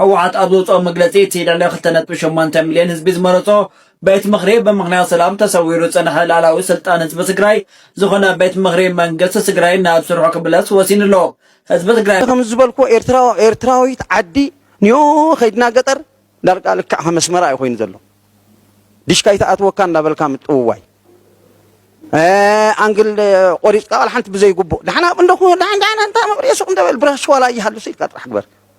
ህወሓት ኣብ ዘውፅኦ መግለፂ እቲ ልዕሊ ክልተ ነጥቢ ሸሞንተ ሚልዮን ህዝቢ ዝመረፆ ቤት ምኽሪ ብምኽንያት ሰላም ተሰዊሩ ዝፀንሐ ልኣላዊ ስልጣን ህዝቢ ትግራይ ዝኾነ ቤት ምኽሪ መንግስቲ ትግራይ ናብ ስርሑ ክምለስ ወሲኑ ኣሎ። ህዝቢ ትግራይ ከም ዝበልኩዎ ኤርትራ ኤርትራዊት ዓዲ ኒኦ ከይድና ገጠር ዳርጋ ልክዕ ከም ኣስመራ እዩ ኮይኑ ዘሎ ዲሽካ ይተኣትወካ እንዳበልካ ምጥውዋይ ኣንግል ቆሪፅካ ቃል ሓንቲ ብዘይግቡእ ዳሕና እንዶ ዳሕና እንታይ መብሪየ ሱቅ እንደበል ብራሽ ዋላ ይሃልሱ ኢልካ ጥራሕ ግበር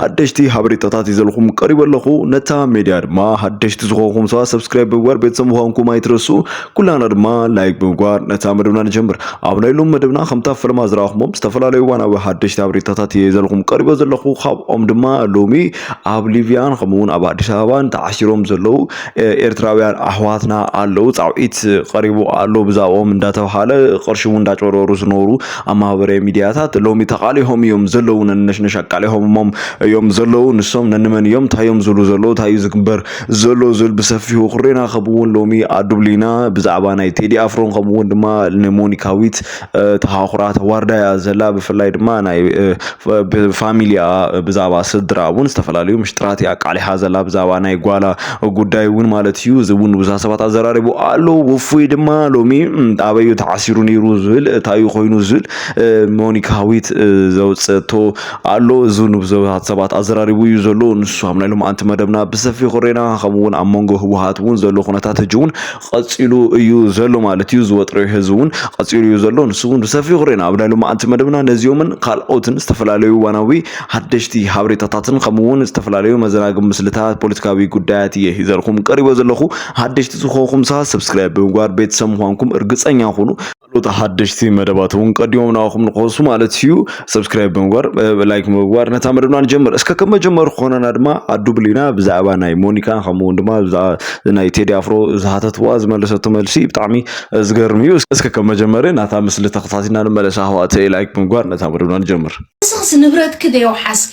ሓደሽቲ ሓበሬታታት ይዘልኹም ቀሪበ ኣለኹ ነታ ሜድያ ድማ ሓደሽቲ ዝኾንኩም ሰባት ሰብስክራይብ ብምግባር ቤተሰብ ምዃንኩም ኣይትረሱ ኩላና ድማ ላይክ ብምግባር ነታ መደብና ንጀምር ኣብ ናይ ሎም መደብና ከምታ ፈለማ ዝረኣኹሞም ዝተፈላለዩ እዋናዊ ሓደሽቲ ሓበሬታታት እየ ዘልኹም ቀሪበ ዘለኹ ካብኦም ድማ ሎሚ ኣብ ሊብያን ከምኡውን ኣብ ኣዲስ ኣበባን ተዓሲሮም ዘለዉ ኤርትራውያን ኣሕዋትና ኣለዉ ፃውዒት ቀሪቡ ኣሎ ብዛዕባኦም እንዳተባሃለ ቅርሺ እውን እንዳጨረሩ ዝነበሩ ኣብ ማህበራዊ ሚድያታት ሎሚ ተቃሊሆም እዮም ዘለዉ ነንነሽነሽ ኣቃሊሆምሞም እዮም ዘለዉ ንሶም ነንመን እዮም እንታይ እዮም ዝብሉ ዘለዉ እንታይ እዩ ዝግበር ዘሎ ዝብል ብሰፊሑ ኩሬና ከምኡ እውን ሎሚ ኣዱብሊና ብዛዕባ ናይ ቴዲ ኣፍሮን ከምኡ እውን ድማ ንሞኒካዊት ተሃኩራ ተዋርዳ እያ ዘላ ብፍላይ ድማ ናይ ፋሚሊኣ ብዛዕባ ስድራ እውን ዝተፈላለዩ ምሽጥራት እያ ኣቃሊሓ ዘላ ብዛዕባ ናይ ጓላ ጉዳይ እውን ማለት እዩ እዚ እውን ብዙሓት ሰባት ኣዘራሪቡ ኣሎ ውፉይ ድማ ሎሚ ኣበዩ ተዓሲሩ ነይሩ ዝብል እታዩ ኮይኑ ዝብል ሞኒካ ሃዊት ዘውፅእቶ ኣሎ እዚ ንብዙሓት ሰባት ኣዘራሪቡ እዩ ዘሎ ንሱ ኣብ ናይ ሎማዓንቲ መደብና ብሰፊ ኩሬና ከምኡውን ኣብ መንጎ ህወሓት እውን ዘሎ ኩነታት ህጂ እውን ቐጺሉ እዩ ዘሎ ማለት እዩ። ዝወጥረዩ ህዝቢ እውን ቐጺሉ እዩ ዘሎ። ንሱ እውን ብሰፊሑ ክርእና ኣብ ናይ ሎማዓንቲ መደብና ነዚኦምን ካልኦትን ዝተፈላለዩ እዋናዊ ሓደሽቲ ሓበሬታታትን ከምኡ እውን ዝተፈላለዩ መዘናግ ምስልታት ፖለቲካዊ ጉዳያት እየ ሂዘልኩም ቀሪቦ ዘለኹ። ሓደሽቲ ዝኾንኩም ሰ ሰብስክራይብ ብምግባር ቤተሰብ ምዃንኩም እርግጸኛ ኩኑ። ካልኦት ሓደሽቲ መደባት እውን ቀዲሞም ናባኹም ንክወሱ ማለት እዩ ሰብስክራይብ ብምግባር ላይክ ብምግባር ነታ መደብና ንጀምር እስከ ከም መጀመሪ ክኾነና ድማ ኣዱብል ኢና ብዛዕባ ናይ ሞኒካ ከምኡ እውን ድማ ብዛዕባ ናይ ቴዲ ኣፍሮ ዝሓተትዋ ዝመለሰቶ መልሲ ብጣዕሚ ዝገርም እዩ እስከ ከም መጀመሪ ናታ ምስሊ ተኸታቲና ንመለስ ኣሕዋተይ ላይክ ብምግባር ነታ መደብና ንጀምር ንስኽስ ንብረትኪ ዶ የውሓስኪ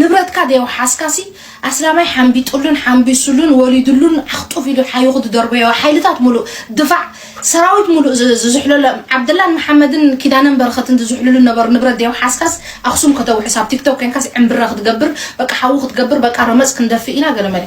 ንብረትካ ዘየውሓስካሲ ኣስላማይ ሓምቢጥሉን ሓምቢሱሉን ወሪድሉን ዓኽጡፍ ኢሉ ሓይኹ ዝደርበዮ ሓይልታት ሙሉእ ድፋዕ ሰራዊት ሙሉእ ዝዝሕለሎ ዓብደላን መሓመድን ኪዳነን በረኸትን ዝዝሕልሉ ዝነበሩ ንብረት ዘየውሓስካስ ኣኽሱም ከተውሕስ ኣብ ቲክቶክ ኮንካስ ዕምብረ ክትገብር በቃ ሓዊ ክትገብር በቃ ረመፅ ክንደፍእ ኢና ገለመለ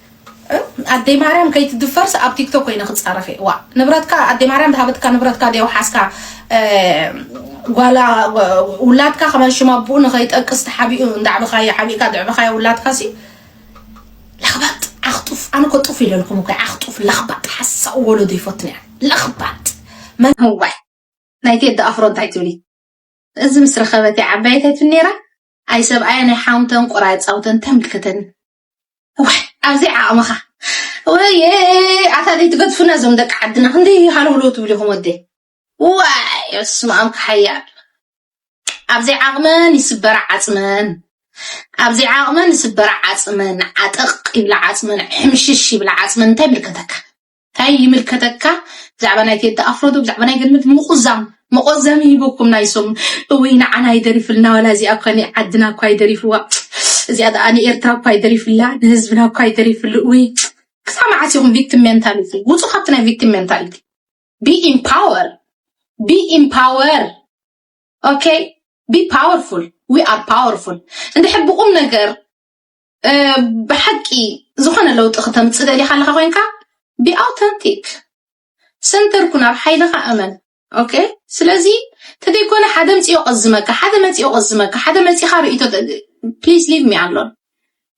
ኣደይ ማርያም ከይትድፈርስ ኣብ ቲክቶክ ኮይነ ክፃረፍ እየ ዋእ ንብረትካ ኣደይ ማርያም ዝሃበትካ ንብረትካ ዲዮ ሓዝካ ጓላ ውላድካ ከመን ሽም ኣቡኡ ንኸይጠቅስ ተሓቢኡ እንዳዕብኻዮ ሓቢእካ ድዕብኻዮ ውላድካ ሲ ለኽባጥ ዓኽጡፍ ኣነ እኮ ጡፍ ኢለልኩም እኮ ዓኽጡፍ ለኽባጥ ሓሳኡ ወለዶ ይፈትን እያ ለኽባጥ መን ህዋይ ናይ ቴዲ ኣፍሮ እንታይ ትብሊ እዚ ምስ ረኸበት እያ ዓባየት ኣይትን ነይራ ኣይ ሰብኣያ ናይ ሓውንተን ቆራይ ፃውተን ተምልክተን ዋይ ኣብዘይ ዓቕምኻ ወየ ኣታ ዘይትገድፉና እዞም ደቂ ዓድና ክንደይ ሃለውለው ትብሉ ኢኹም ወደይ ዋይ በስመ ኣም ክሓያል ኣብዘይ ዓቕመን ይስበራ ዓፅመን ኣብዘይ ዓቕመን ይስበራ ዓፅመን ዓጠቕ ይብላ ዓፅመን ሕምሽሽ ይብላ ዓፅመን እንታይ ምልከተካ ታይ ይምልከተካ ብዛዕባ ናይ ቴዲ ኣፍሮ ዶ ብዛዕባ ናይ ገነት ምቁዛም መቆዘሚ ሂቡኩም ናይ ሰሙን እውይ ንዓና ይደሪፍልና ዋላ እዚኣ እኳ ንዓድና እኳ ይደሪፍዋ እዚኣ ደኣ ንኤርትራ እኳ ይደሪፍላ ንህዝብና እኳ ይደሪፍሉ እውይ ክሳብ መዓስ ኢኹም ቪክቲም ሜንታሊቲ ውፁ ካብቲ ናይ ቪክቲም ሜንታሊቲ ቢ ኢምፓወር ቢ ኢምፓወር ኦኬ ቢ ፓወርፉል ዊ ኣር ፓወርፉል እንድሕር ብቁም ነገር ብሓቂ ዝኾነ ለውጢ ክተምፅእ ደሊኻ ኣለኻ ኮይንካ ብኣውተንቲክ ሰንተር ኩን ኣብ ሓይልኻ እመን ኦኬ ስለዚ ተደይኮነ ሓደ ምፅዮ ቀዝመካ ሓደ መፅዮ ቀዝመካ ሓደ መፂኻ ርእቶ ፕሊዝ ሊቭ ሚ ኣሎን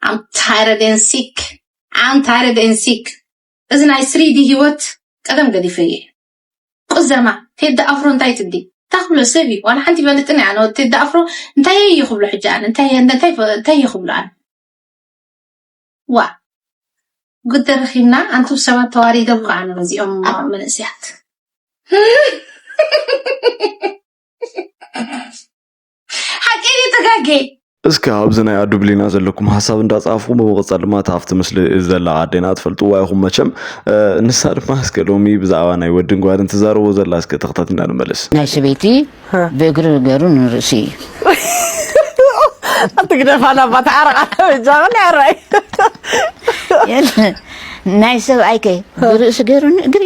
ኣም ታይረድ ን ሲክ ኣም ታይረድ ን ሲክ እዚ ናይ ስሪዲ ሂወት ቀደም ገዲፈ እየ ቁዘማ ቴዲ ኣፍሮ እንታይ ትብሊ እንታይ ክብሎ ሰብ እዩ ዋላ ሓንቲ ይፈልጥን እያ ኣነ ቴዲ ኣፍሮ እንታይ እየ ክብሎ ሕጂ ኣነ እንታይ እንታይ እንታይ እየ ክብሎ ኣነ ዋ ጉድ ተረኺብና ኣንቱም ሰባት ተዋሪዶም ከዓ ኣነ ነዚኦም መንእስያት ሓቂ እዩ ተጋጌ እስከ ኣብዚ ናይ ኣዱ ብሊና ዘለኩም ሓሳብ እንዳጻፍኩም ብምቕጻል ድማ እታ ኣብቲ ምስሊ ዘላ ኣዴና ትፈልጥዋ ኢኹም መቸም ንሳ ድማ እስከ ሎሚ ብዛዕባ ናይ ወድን ጓልን ትዛረቦ ዘላ እስከ ተኽታት እንዳንመለስ ናይ ሰበይቲ ብእግሪ ገሩ ንርእሲ እዩ ኣትግደፋና ባ ተዓረቃ ጃቕን ዕራይ ናይ ሰብኣይከ ብርእሲ ገሩ ንእግሪ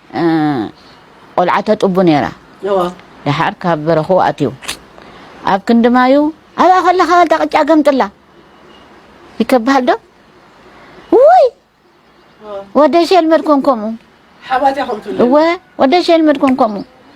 ቆልዓ ተጥቡ ነይራ ደሓር ካብ በረኹ ኣትዩ ኣብ ክንዲ ማዩ ኣብኣ ከለኻ ዋልታ ቅጫ ገምጥላ ይከብሃል ዶ ውይ ወደሽ የልመድኩም ከምኡ እወ ወደሽ የልመድኩም ከምኡ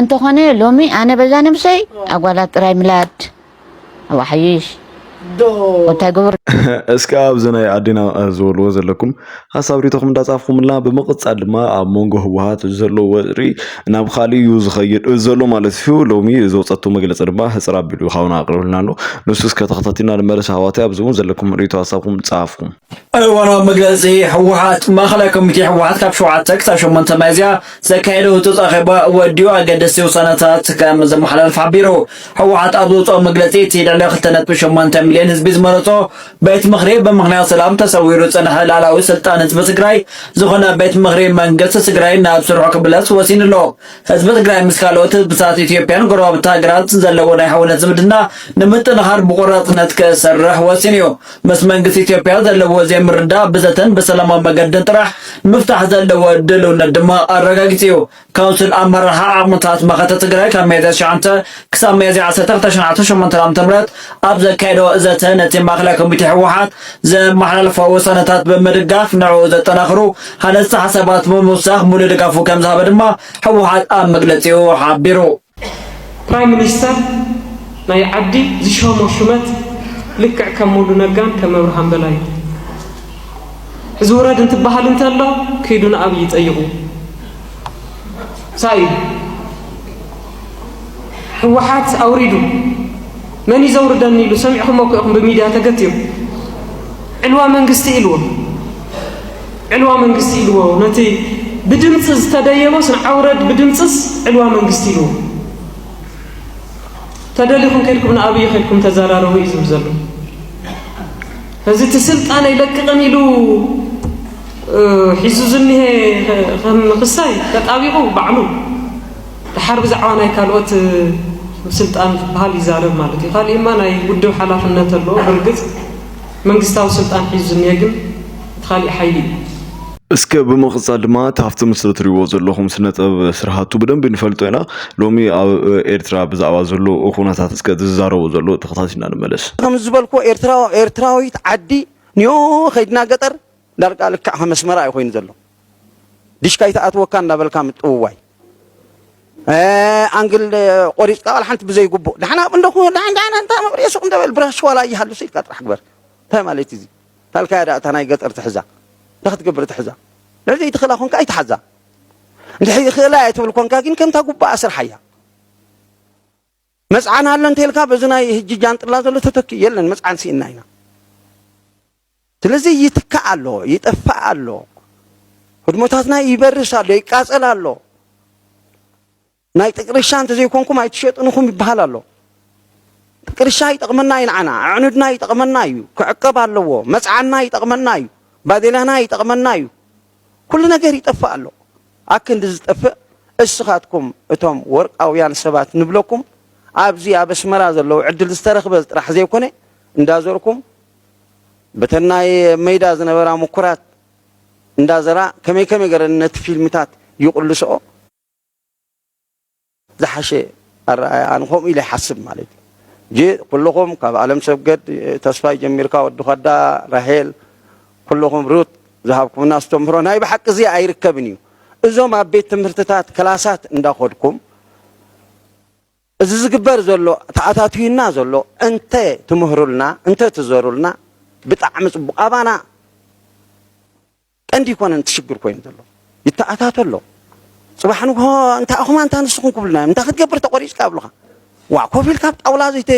እንተኾነ ሎሚ ኣነ በዛ ነብሰይ ኣጓላት ጥራይ ምላድ ኣብ ኣሓይሽ እንታይ ግብር እስከ ኣብዚ ናይ ኣዴና ዝበልዎ ዘለኩም ሓሳብ ሪቶኹም እንዳጻፍኩምልና ብምቕጻል ድማ ኣብ መንጎ ህወሓት ዘሎ ወጥሪ ናብ ካልእ እዩ ዝኸይድ ዘሎ ማለት እዩ ሎሚ ዘውፀቱ መግለፂ ድማ ህፅር ኣቢሉ ሓውና ኣቕርብልና ኣሎ ንሱ እስከ ተኸታቲልና ንመለስ ኣሕዋተይ ኣብዚ እውን ዘለኩም ሪቶ ሓሳብኩም ጻፍኩም ኣብ እዋናዊ መግለጺ ህወሓት፣ ማእኸላይ ኮሚቴ ህወሓት ካብ ሸውዓተ ክሳብ ሸሞንተ ሚያዝያ ዘካየዶ ህጹጽ ኣኼባ ወዲኡ ኣገደስቲ ውሳነታት ከም ዘመሓላለፈ ሓቢሩ። ህወሓት ኣብ ዘውጽኦ መግለጺ፣ እቲ ልዕሊ ክልተ ነጥቢ ሸሞንተ ሚልዮን ህዝቢ ዝመረጾ ቤት ምኽሪ ብምኽንያት ሰላም ተሰዊሩ ዝጸንሐ ልኣላዊ ስልጣን ህዝቢ ትግራይ ዝኾነ ቤት ምኽሪ መንግስቲ ትግራይ ናብ ስርሑ ክምለስ ወሲኑ ኣሎ። ህዝቢ ትግራይ ምስ ካልኦት ህዝብታት ኢትዮጵያን ጎረባብቲ ሃገራት ዘለዎ ናይ ሕውነት ዝምድና ንምጥንኻር ብቆራጽነት ክሰርሕ ወሲኑ እዩ። ምስ መንግስቲ ኢትዮጵያ ዘለዎ ዘይምርዳእ ብዘተን ብሰላማዊ መገድን ጥራሕ ንምፍታሕ ዘለዎ ድልውነት ድማ ኣረጋጊጹ እዩ። ካውንስል ኣመራርሓ ዓቕምታት መኸተ ትግራይ ካብ ሚያዝያ ትሽዓተ ክሳብ ሚያዝያ ዓሰርተ ክልተ ሽሕ ዓሰርተ ሸሞንተ ዓመተ ምህረት ኣብ ዘካየዶ ዘተ ነቲ ማእከላይ ኮሚቴ ህወሓት ዘመሓላለፎ ውሳነታት ብምድጋፍ ንዕኡ ዘጠናኽሩ ሃነፅቲ ሓሳባት ብምውሳኽ ሙሉእ ድጋፉ ከምዝሃበ ድማ ህወሓት ኣብ መግለፂኡ ሓቢሩ። ፕራይም ሚኒስተር ናይ ዓዲ ዝሾሞ ሹመት ልክዕ ከም ሙሉ ነጋን ከም ኣብርሃም በላይ እዩ። እዚ ውረድ እንትበሃል እንተሎ ክይዱ ንኣብይ ጠይቑ ሳይ ህወሓት ኣውሪዱ መን እዩ ዘውርደኒ ኢሉ ሰሚዕኹም እኮ ኢኹም ብሚድያ ተገትሩ ዕልዋ መንግስቲ ኢልዎ ዕልዋ መንግስቲ ኢልዎ ነቲ ብድምፂ ዝተደየበስ ንዓውረድ ብድምፅስ ዕልዋ መንግስቲ ኢልዎ ተደሊኹም ከድኩም ንኣብይ ከድኩም ተዘራረቡ እዩ ዝብል ዘሎ እዚ እቲ ስልጣን ኣይለቅቕን ኢሉ ሒዙ ዝኒሀ ክሳይ ተጣቢቑ ባዕሉ ድሓር ብዛዕባ ናይ ካልኦት ስልጣን ዝበሃል ይዛረብ ማለት እዩ ካሊእማ ናይ ውድብ ሓላፍነት ኣለዎ ብርግፅ መንግስታዊ ስልጣን ሒዙ ዝኒሀ ግን እቲ ካሊእ ሓይሊ እዩ። እስከ ብምቕጻል ድማ እቲ ኣብቲ ምስሊ እትሪእዎ ዘለኹም ስነ ጥበብ ስርሃቱ ብደንቢ ንፈልጦ ኢና። ሎሚ ኣብ ኤርትራ ብዛዕባ ዘሎ ኩነታት እስከ እቲ ዝዛረቦ ዘሎ ተኸታቲልና ንመለስ። ከም ዝበልክዎ ኤርትራዊት ዓዲ ንዮ ከይድና ገጠር ዳርጋ ልክዕ ከም ኣስመራ እዩ ኮይኑ ዘሎ። ዲሽካ ኣይትኣትወካ እንዳበልካ ምጥውዋይ ኣንግል ቆሪፅካ ዋላ ሓንቲ ብዘይግቡእ ደሓን ኣብኡ እንዶ ደሓን እንታይ መብርሂ ሱቅ እንተበል ብራሽ ዋላ ይሃልሱ ኢልካ ጥራሕ ግበር እንታይ ማለት እዩ እዚ ታልካያ ዳኣ እታ ናይ ገጠር ትሕዛ እንታይ ክትገብር ትሕዛ ልዕሊ ዘይትኽእላ ኮንካ ኣይትሓዛ እንድሕር ይኽእላ እየ ትብል ኮንካ ግን ከምታ ጉባኣ ስርሓያ መጽዓን ኣሎ እንተልካ በዚ ናይ ህጂ ጃንጥላ ዘሎ ተተኪኡ የለን መጽዓን ሲእና ኢና ስለዚ ይትካእ ኣሎ ይጠፋእ ኣሎ ህድሞታትና ይበርስ ኣሎ ይቃጸል ኣሎ ናይ ጥቅርሻ እንተዘይኮንኩም ኣይትሸጥንኹም ይበሃል ኣሎ ጥቅርሻ ይጠቕመና እዩ ንዓና ኣዕኑድና ይጠቕመና እዩ ክዕቀብ ኣለዎ መጽዓና ይጠቕመና እዩ ባዴላና ይጠቕመና እዩ ኩሉ ነገር ይጠፍእ ኣሎ። ኣክንዲ ዝጠፍእ እስኻትኩም እቶም ወርቃውያን ሰባት ንብለኩም ኣብዚ ኣብ ኣስመራ ዘለዉ ዕድል ዝተረኽበ ጥራሕ ዘይኮነ እንዳዘርኩም በተን ናይ መይዳ ዝነበራ ምኩራት እንዳዘራ ከመይ ከመይ ገረን ነቲ ፊልምታት ይቕልስኦ። ዝሓሸ ኣረኣእያ ኣነ ከምኡ ኢለ ይሓስብ ማለት እዩ ጂ ኩልኹም ካብ ኣለም ሰብገድ ተስፋይ ጀሚርካ ወዲ ኳዳ ራሄል ኩልኹም ሩት ዝሃብኩምና ኣስተምህሮ ናይ ብሓቂ እዚ ኣይርከብን እዩ እዞም ኣብ ቤት ትምህርትታት ክላሳት እንዳኾድኩም እዚ ዝግበር ዘሎ ተኣታትዩና ዘሎ እንተ ትምህሩልና እንተ ትዘሩልና ብጣዕሚ ጽቡቕ ኣባና ቀንዲ ኣይኮነን እቲ ሽግር ኮይኑ ዘሎ ይተኣታቶ ኣሎ ጽባሕ ንግሆ እንታ ኣኹም ኣንታ ንስኹም ክብሉና እዮም እንታ ክትገብር ተቖሪጽካ ኣብሉኻ ዋ ኮፍ ኢልካ ኣብ ጣውላ ዘይተ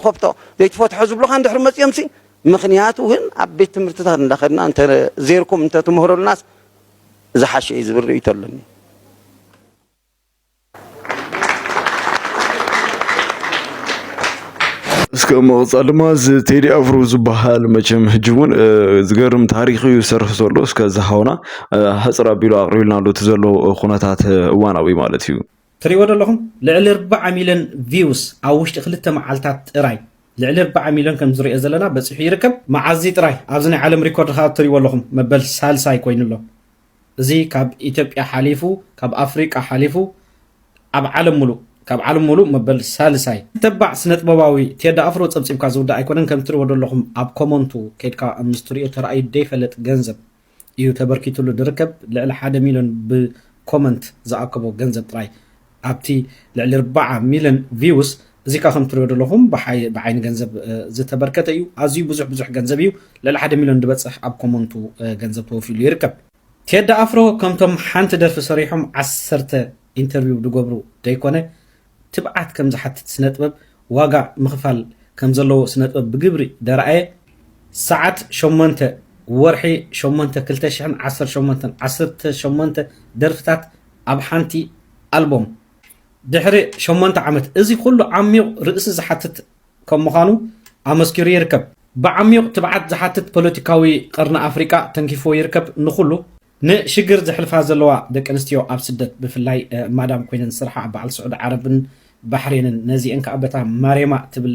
ኾብቶ ዘይትፈትሖ ዝብሉኻ እንድሕሪ መጺኦምሲ ምኽንያቱ ግን ኣብ ቤት ትምህርትታት እንዳኸድና እንተ ዜርኩም እንተ ትምህሩልናስ ዝሓሸ እዩ ዝብል ርእይቶ ኣለኒ። እስከ መቕጻል ድማ እዚ ቴዲ ኣፍሮ ዝበሃል መቸም ሕጂ እውን ዝገርም ታሪክ እዩ ዝሰርሕ ዘሎ እስከ ዝሃውና ሃፅር ኣቢሉ ኣቕሪብልና ኣሎ እቲ ዘሎ ኩነታት እዋናዊ ማለት እዩ ትሪእዎ ዶ ኣለኹም ልዕሊ ኣርባዓ ሚልዮን ቪውስ ኣብ ውሽጢ ክልተ መዓልታት ጥራይ ልዕሊ ኣርባዓ ሚልዮን ከምዚ ንሪኦ ዘለና በጺሑ ይርከብ መዓዚ ጥራይ ኣብዚ ናይ ዓለም ሪኮርድ ከኣ ትሪእዎ ኣለኹም መበል ሳልሳይ ኮይኑ ኣሎ እዚ ካብ ኢትዮጵያ ሓሊፉ ካብ ኣፍሪቃ ሓሊፉ ኣብ ዓለም ሙሉእ ካብ ዓለም ሙሉእ መበል ሳልሳይ ተባዕ ስነጥበባዊ ቴዲ ኣፍሮ ጸብጺብካ ዝውዳእ ኣይኮነን ከም ትሪእዎ ዶ ኣለኹም ኣብ ኮመንቱ ከይድካ ምስ ትሪኦ ተራእዩ ደይፈለጥ ገንዘብ እዩ ተበርኪትሉ ድርከብ ልዕሊ ሓደ ሚልዮን ብ ኮመንት ዝኣከቦ ገንዘብ ጥራይ ኣብቲ ልዕሊ ርባዓ ሚልዮን ቪውስ እዚካ ከም ትሪኦ ደለኩም ብዓይኒ ገንዘብ ዝተበርከተ እዩ ኣዝዩ ብዙሕ ብዙሕ ገንዘብ እዩ ልዕሊ ሓደ ሚልዮን ድበጽሕ ኣብ ኮመንቱ ገንዘብ ተወፊሉ ይርከብ ቴዲ ኣፍሮ ከምቶም ሓንቲ ደርፊ ሰሪሖም ዓሰርተ ኢንተርቪው ድገብሩ ደይኮነ ትብዓት ከም ዝሓትት ስነጥበብ ዋጋ ምኽፋል ከም ዘለዎ ስነጥበብ ብግብሪ ደርኣየ። ሰዓት ሸሞንተ፣ ወርሒ ሸሞንተ ክልተ ሽሕን ዓሰርተ ሸሞንተን፣ ዓሰርተ ሸሞንተ ደርፍታት ኣብ ሓንቲ ኣልቦም። ድሕሪ ሸሞንተ ዓመት እዚ ኩሉ ዓሚዩቕ ርእሲ ዝሓትት ከም ምዃኑ ኣመስኪሩ ይርከብ። ብዓሚዩቕ ትብዓት ዝሓትት ፖለቲካዊ ቀርኒ ኣፍሪቃ ተንኪፍዎ ይርከብ ንኹሉ። ንሽግር ዘሕልፋ ዘለዋ ደቂ ኣንስትዮ ኣብ ስደት ብፍላይ ማዳም ኮይነን ዝስርሓ ኣብ በዓል ስዑድ ዓረብን ባሕሬንን ነዚኤን ከኣ በታ ማሬማ ትብል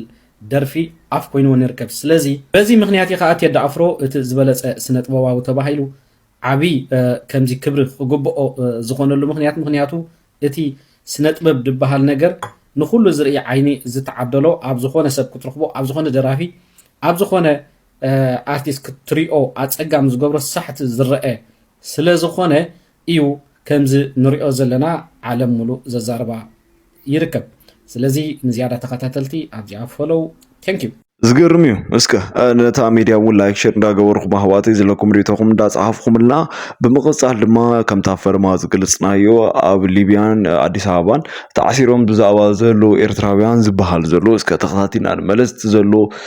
ደርፊ ኣፍ ኮይንወን ይርከብ ስለዚ በዚ ምክንያት እዩ ከኣ ቴዲ ኣፍሮ እቲ ዝበለጸ ስነጥበባዊ ተባሂሉ ዓቢ ከምዚ ክብሪ ክግብኦ ዝኮነሉ ምክንያት ምክንያቱ እቲ ስነጥበብ ድበሃል ነገር ንኩሉ ዝርኢ ዓይኒ ዝተዓደሎ ኣብ ዝኮነ ሰብ ክትረክቦ ኣብ ዝኮነ ደራፊ ኣብ ዝኮነ ኣርቲስት ክትሪኦ ኣጸጋሚ ዝገብሮ ሳሕቲ ዝረኣ ስለዝኾነ ኢዩ ከምዚ ንሪኦ ዘለና ዓለም ምሉእ ዘዛርባ ይርከብ ስለዚ ንዝያዳ ተኸታተልቲ ኣብዚኣ ፎሎው Thank you። ዝገርም እዩ እስከ ነታ ሚድያ እውን ላይክ ሸር እንዳገበርኹም ኣህዋተይ ዘለኩም ሪቶኹም እንዳፀሓፍኹምልና ብምቕፃል ድማ ከምታ ፈርማ ዝገልፅናዮ ኣብ ሊብያን ኣዲስ ኣበባን ተዓሲሮም ብዛዕባ ዘሎ ኤርትራውያን ዝበሃል ዘሎ እስከ ተኸታቲልና ንመለስቲ ዘሎ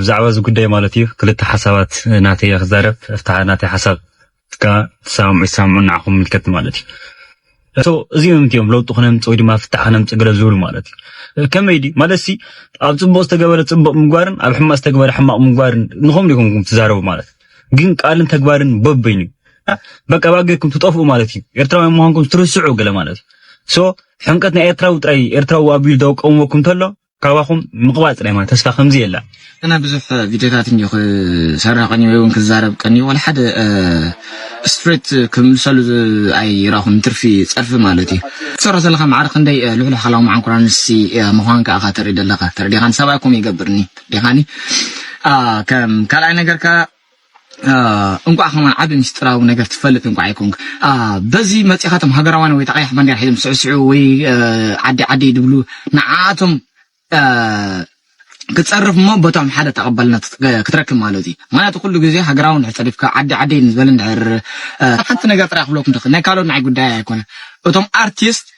ብዛዕባ እዚ ጉዳይ ማለት እዩ ክልተ ሓሳባት ናተይ እየ ክዛረብ እፍታ ናተይ ሓሳብ እካ ትሰማምዑ ይሰማምዑ ንዓኹም ምልከት ማለት እዩ እቶ እዚኦም እዮም ለውጢ ክነምፅ ወይ ድማ ፍታሕ ክነምፅ ገለ ዝብሉ ማለት እዩ ከመይ ድዩ ማለት ሲ ኣብ ፅቡቅ ዝተገበረ ፅቡቅ ምግባርን ኣብ ሕማቅ ዝተገበረ ሕማቅ ምግባርን ንኹም ዲኹም ትዛረቡ ማለት ግን ቃልን ተግባርን በበይኑ በቃ ባገኩም ትጠፍኡ ማለት እዩ ኤርትራውያን ምዃንኩም ትርስዑ ገለ ማለት እዩ ሶ ሕንቀት ናይ ኤርትራዊ ጥራይ ኤርትራዊ ኣቢሉ ደው ቀውመኩም ተሎ ካባኹም ምቕባል ጥራይ ማለት ተስፋ ከምዚ የላ ኣነ ብዙሕ ቪድዮታት እንዮ ክሰርሕ ቀኒ ወይ እውን ክዛረብ ቀኒ ወላ ሓደ ስትሬት ክምልሰሉ ኣይራኹን ትርፊ ጸርፊ ማለት እዩ ትሰርሖ ዘለኻ ማዕረ ክንደይ ልሕሉሕ ሓላዊ መዓንኩራ ንሲ ምዃንካ እኻ ተርኢ ዘለኻ ተረዲኻን ሰብኣይኩም ይገብርኒ ዲኻኒ ከም ካልኣይ ነገር ከ እንቋዕ ከማን ዓቢ ምስጢራዊ ነገር ትፈልጥ እንቋዕ ይኮንክ በዚ መጺኻ ቶም ሃገራውያን ወይ ተቐያሕ ባንዴራ ሒዞም ስዕስዑ ወይ ዓዲ ዓዲ ይድብሉ ንዓቶም ክጸርፍ እሞ በቶም ሓደ ተቐባልነት ክትረክብ ማለት እዩ ምክንያቱ ኩሉ ግዜ ሃገራዊ ንድሕር ጸሪፍካ ዓዲ ዓዲ ንዝበለ ንድሕር ሓንቲ ነገር ጥራይ ክብለኩም ደኽ ናይ ካልኦት ንዓይ ጉዳይ ኣይኮነ እቶም ኣርቲስት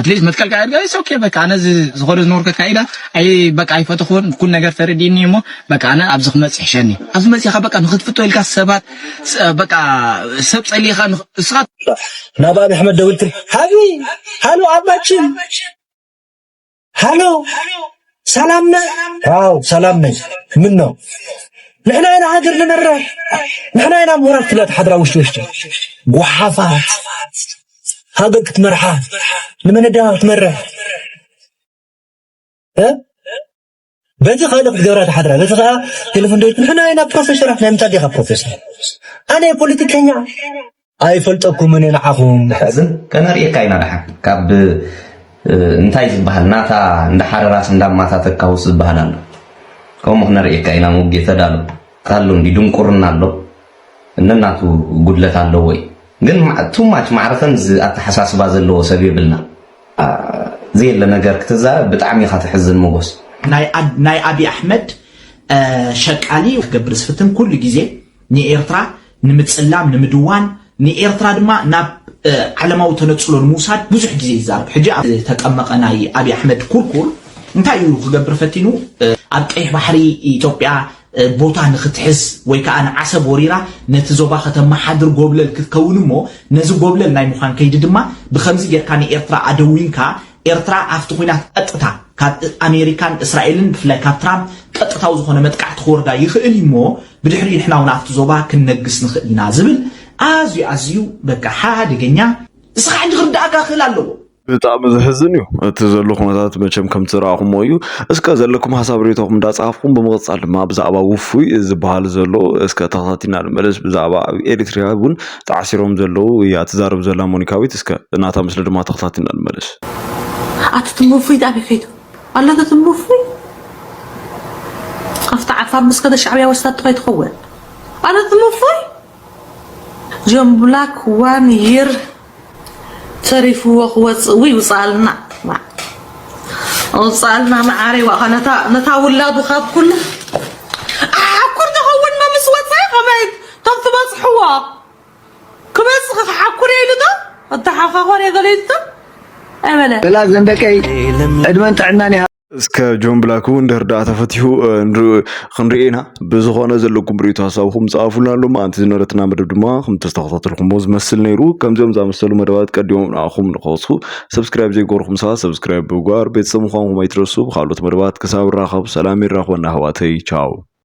ኣትሊስት መትከል ካያ ድጋ ኢትስ ኦኬ በቃ ኣነ ዝኾነ ዝነበርከት ካይዳ ኣይ በቃ ኣይፈተኹን ኩን ነገር ተረዲኒ እሞ በቃ ኣነ ኣብዚ ክመጽእ ይሕሸኒ ኣብዚ መጺኻ በቃ ንኽትፍቶ ኢልካ ሰባት በቃ ሰብ ጸሊኻ እስኻ ናብ ኣብ ኣሕመድ ደውልትሪ ሃቢ ሃሎ ኣባችን ሃሎ ሰላም ነ ዋው ሰላም ነይ ምን ነው ንሕና ኢና ሃገር ንመርሕ ንሕና ኢና ምሁራት ትብላ ትሓድራ ውሽጢ ውሽጢ ጓሓፋት ሃገር ክትመርሓ ንመነዳ ክትመርሕ በቲ ካልእ ክትገብራ ትሓድራ በቲ ከዓ ቴሌፎን ንሕና ኢና ፕሮፌሰራት ናይ ምንታይ ዲኻ ፕሮፌሰር ኣነ ፖለቲከኛ ኣይፈልጠኩምን ንዓኹም። ዘሕዝን ከነርእየካ ኢና ደሓን ካብ እንታይ ዝበሃል ናታ እንዳ ሓረራስ እንዳ ማታ ተካውስ ዝበሃል ኣሎ ከምኡ ክነርእየካ ኢና ሙጌ ተዳሎ ታሎ እንዲ ድንቁርና ኣሎ ነናቱ ጉድለት ኣለዎ እዩ ግን ቱማች ማዕረ ከምዚ ኣተሓሳስባ ዘለዎ ሰብ የብልና ዘየለ ነገር ክትዛረብ ብጣዕሚ ኢኻ ተሕዝን ሞጎስ ናይ ኣቢ ኣሕመድ ሸቃሊ ክገብር ዝፍትን ኩሉ ግዜ ንኤርትራ ንምጽላም፣ ንምድዋን፣ ንኤርትራ ድማ ናብ ዓለማዊ ተነጽሎ ንምውሳድ ብዙሕ ግዜ ይዛረብ። ሕጂ ኣብ ዝተጠመቐ ናይ ኣቢ ኣሕመድ ኩርኩር እንታይ እዩ ክገብር ፈቲኑ? ኣብ ቀይሕ ባሕሪ ኢትዮጵያ ቦታ ንክትሕዝ ወይ ከኣ ንዓሰብ ወሪራ ነቲ ዞባ ከተመሓድር ጎብለል ክትከውን እሞ ነዚ ጎብለል ናይ ምዃን ከይዲ ድማ ብኸምዚ ጌርካ ንኤርትራ ኣደዊንካ ኤርትራ ኣብቲ ኹናት ቐጥታ ካብ ኣሜሪካን እስራኤልን ብፍላይ ካብ ትራምፕ ቐጥታዊ ዝኾነ መጥቃዕቲ ክወርዳ ይኽእል እዩ እሞ ብድሕሪኡ ንሕና ውን ኣብቲ ዞባ ክንነግስ ንኽእል ኢና ዝብል ኣዝዩ ኣዝዩ በቃ ሓደገኛ ንስኻ ሕጂ ክርዳኣካ ክእል ኣለዎ። ብጣዕሚ ዘሕዝን እዩ እቲ ዘሎ ኩነታት መቸም ከም ትረኣኹሞ እዩ እስከ ዘለኩም ሀሳብ ሬቶኹም እንዳጻፍኩም ብምቕጻል ድማ ብዛዕባ ውፉይ ዝበሃል ዘሎ እስከ ተኸታቲና ንመለስ ብዛዕባ ኣብ ኤሪትሪያ እውን ተዓሲሮም ዘለዉ እያ ትዛረብ ዘላ ሞኒካዊት እስከ ናታ ምስሊ ድማ ተኸታቲልና ንመለስ። ኣቲ ትምርፉይት ኣበይ ከይዱ ኣሎ እቲ ትምርፉይ ኣብቲ ዓፋር ምስ ከደ ሻዕብያ ወስዳቶ ከይትኸውን ኣሎ እቲ ትምርፉይ ጆን ብላክ ዋን ይር ተሪፍዎ ክወፅእ ውይ ውፅኣልና ኣውፅኣልና መዓረይ ዋእኻ ነታ ውላዱ ካብ ኩሉ ኣኩር ተኸውንና ምስ ወፃ ከመይ እቶም ትበጽሕዎ ክበጽሕ ክሓኩር ኢሉ ዶ ኣተሓኻኾር የገለይቶ ኣይበለ በላ ዘንደቀይ ዕድመን ጥዕናን ይሃ እስከ ጆን ብላክ እውን ድሕር ዳኣ ተፈትሑ ክንርኢ ኢና ብዝኾነ ዘለኩም ርእቶ ሀሳብኩም ፀኣፉልና ኣሎ መኣንቲ ዝነበረትና መደብ ድማ ከምተስተኸታተልኩሞ ዝመስል ነይሩ ከምዚኦም ዝኣመሰሉ መደባት ቀዲሞም ንኣኹም ንኸወስኹ ሰብስክራይብ ዘይገበርኩም ሰባ ሰብስክራይብ ብጓር ቤተሰብ ምዃንኩም ኣይትረሱ ብካልኦት መደባት ክሳብ ራኸብ ሰላም ይራኽበና ኣሕዋተይ ቻው